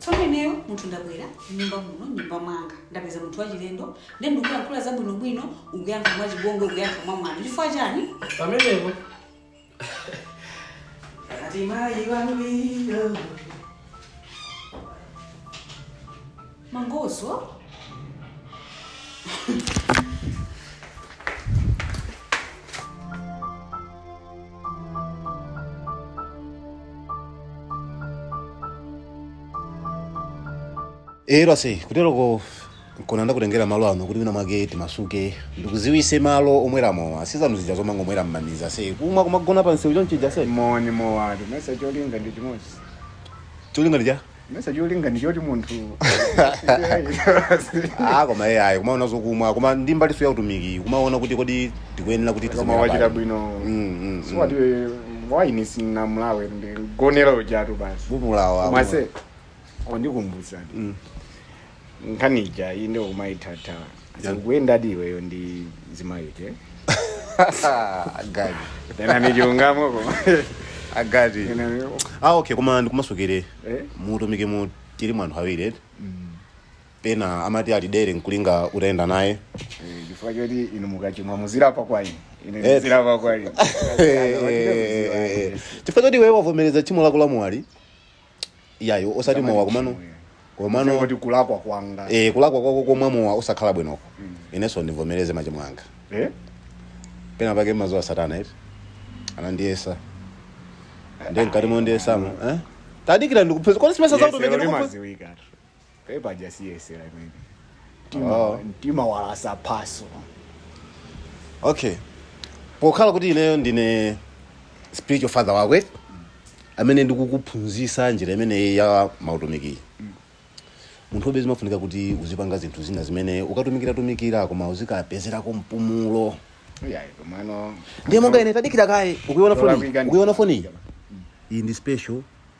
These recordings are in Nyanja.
tsono ineyo munthu ndabwera mnyumba muno nyumba mwanga ndapeza munthu wachilendo nde ndikuyankhula zabwinobwino ukuyankha mwa chibongo ukuyankha mwa mwano chifukwa chani pamenepo ati mayi wangwiro Mangozo. nde wase kuteroko nkona ndakutengera malo ano kuti wina mwake timasuke ndikuziwise malo omweramo ase zanu zija zomangomwera mmaniza si kumwa kumagona pamseu chonchija ase moni mowati mesa cholinga ndi chimodzi cholinga ndija mesa cholinga ndi choti munthu ah koma iye ayi kumaona zokumwa komanso ndi mbalinso ya utumiki kumaona kuti kodi tikuyenera kuti koma tizimira wachita pati. bwino Mm, mm, mm. suwati waini sunamlawe ndi gonera ujatu basi umulawa ase wandikumbutsa Mm. nkhani ija inde umayithatha ukuyendadi iweyo ndi zimayike agadi ena ndi chilungamo koma agadi ena ni- ah okay koma ndikumasukire Eh? mu utumikimu tilimo anthu awiri eti pena amati alidere nkulinga utayenda naye Eh, chifukwa choti inu mukachimwa muzirapa kwa ine ine Eh. ndizirapa kwa inu chifukwa choti iweyo wavomereza tchimo lako la mowali iyayi osati mowa komano komano kuti kulakwa kwanga eh kulakwa kwako komwa mowa osakhala bwinoko inenso ndivomereze machimo anga Eh? pena pake mmadziwa satana eti anandiyesa ndiye mkati mondiyesamo eh? tadikira ndikupeza kodi simesa Yesero zautumiki ndikupe limadziwika. e paja siyesera imene mtima, Oh. mtima walasa phaso okay pokhala kuti ineyo ndine spiritual father wako amene ndikukuphunzisa njira imeneyi ya mautumikiyi munthu umo be zimafunika kuti uzipanga zinthu zina zimene ukatumikiratumikira koma uzikapezerako mpumulo iyayi komano ndiye monga ine tadikira kaye ukuiona foni Ndolakwika ndi- ukuiona foni iyi iyi ndi special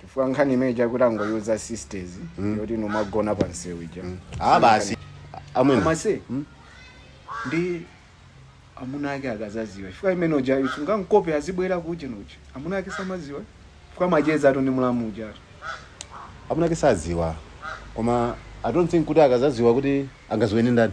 chifukwa nkhani imene ija kuti tango uza sisters yoti mumagona pa msewu ija Ah, basi amwene amase ndi amuna ake akazaziwa chifukwa amene ujayo sungamkope azibwera kuje ndiye amuna ake samaziwa chifukwa macheza athu ndi mulamu ujatu amuna ake saziwa koma i don't think kuti akazaziwa kuti angaziwe ndi ndani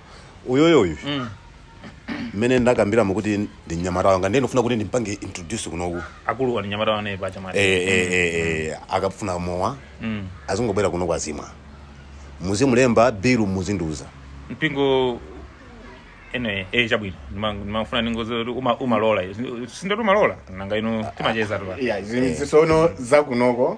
uyoyo uyu mmene ndakambiramo kuti ndi mnyamata wanga ndiye ndifuna kuti ndimpange introduce kunoku akuluwa mnyamata wanga pa chamata Eh, eh, eh, eh, akafuna mowa Mm. azingobwera kunoku azimwa muzimulemba bilu muzindiuza mpingo ene eh chabwino Ndima- ndimafuna ningoziwa kuti uma- umalola sindati umalola nanga ino timacheza tu pa. ya zinthu zisono zakunoko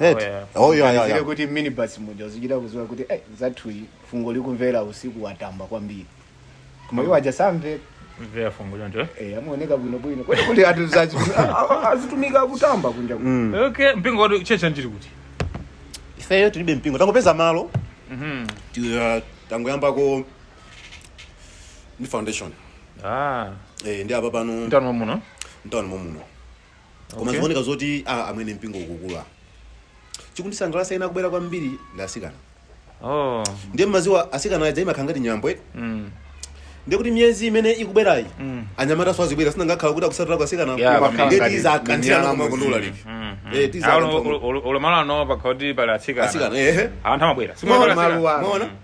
eti oh yeah yeah Zile yeah kuti minibus muja uzichita kuziwa kuti eh zathuyi fungo likumvera usiku watamba kwambiri koma iwo aja samve mvera fungo choncho eh amaoneka bwino bwino kuti kuti atu zazi azitumika kutamba kunja kuno. okay mpingo watu tchetchi njiri kuti ifeyo tilibe mpingo tangopeza malo Mhm. ti- uh, tangoyambako ni foundation ah eh ni apa pano mtauni muno mtawuni momuno koma Okay. zikuoneka zoti ah, amwene mpingo ukukula chikundisangalatsa ena kubwera kwambiri ndi asikana oh ndiye mmaziwa asikana aja imakhala ngati nyambo eti mm. ndiye kuti miyezi imene ikubwerayi Mm. anyamata so azibwera sinangakhala kuti akusatira ka asikana Yeah, Koma ndiye ngati minyala tizakanthirana muzima. kumakondolali Mm, mm. Eh, tiza- Ah, ulo- ulo- ulo- ulo malo ano pakhala kuti pali atsikana asikana ehe anthu amabwera Mwaona? Simabwera atsikana. Maluwa. Mwaona?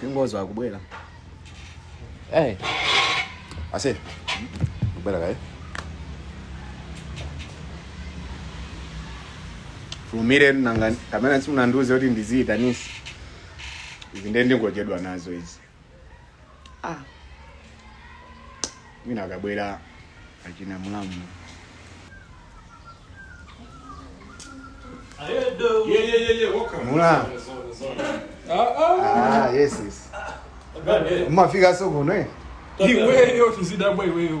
Kingozi wakubwera. Eh. Ase. Kubwera kaye. Fulumira nanga kamene simunandiuze kuti ndiziyitanitsa. Izi ndiye ndingochedwa nazo izi. ah. mwina akabwera achina mulamu mulamu ah, yes yes mumafika so kuno eh? iweyo tuzidabwa iweyo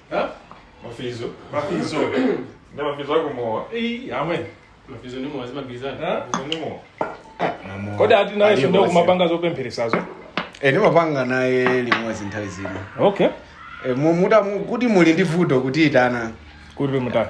Ha? mafizo mafizo nde mafizo ako mowa Ii, amwene mafizo ni mowa zimagwirizana Ha? mafizo ni mowa kodi ati naye Alipo sindeo basi. kumapanga zopempheresazo Eh, ndimapanga naye limodzi nthawi zina okay Eh, mu- muta- mu- kuti muli ndi vuto kutiyitana kuti mutatu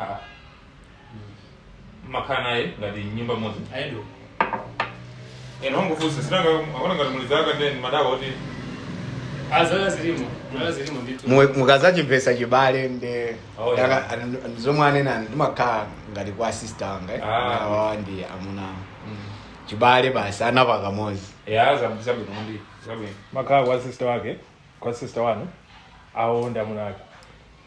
Ah. Mmakhala naye ngati mnyumba imodzi. Ayitu. Ena angofunsa sinanga akona ngati muli zaka then madawa oti Azala zilimo. Azala zilimo ndithu. Mu- mukazachimvesa chibale nde Oh, yeah. yaka- an- an- zomwe anena ndimakhala ngati kwa sister anga eh. Ah. awawa ndi amuna anga. chibale basi anapaka modzi ya zabi zabi kundi zabi. mmakhala kwa sister wake kwa sister wanu awo ndi amuna ake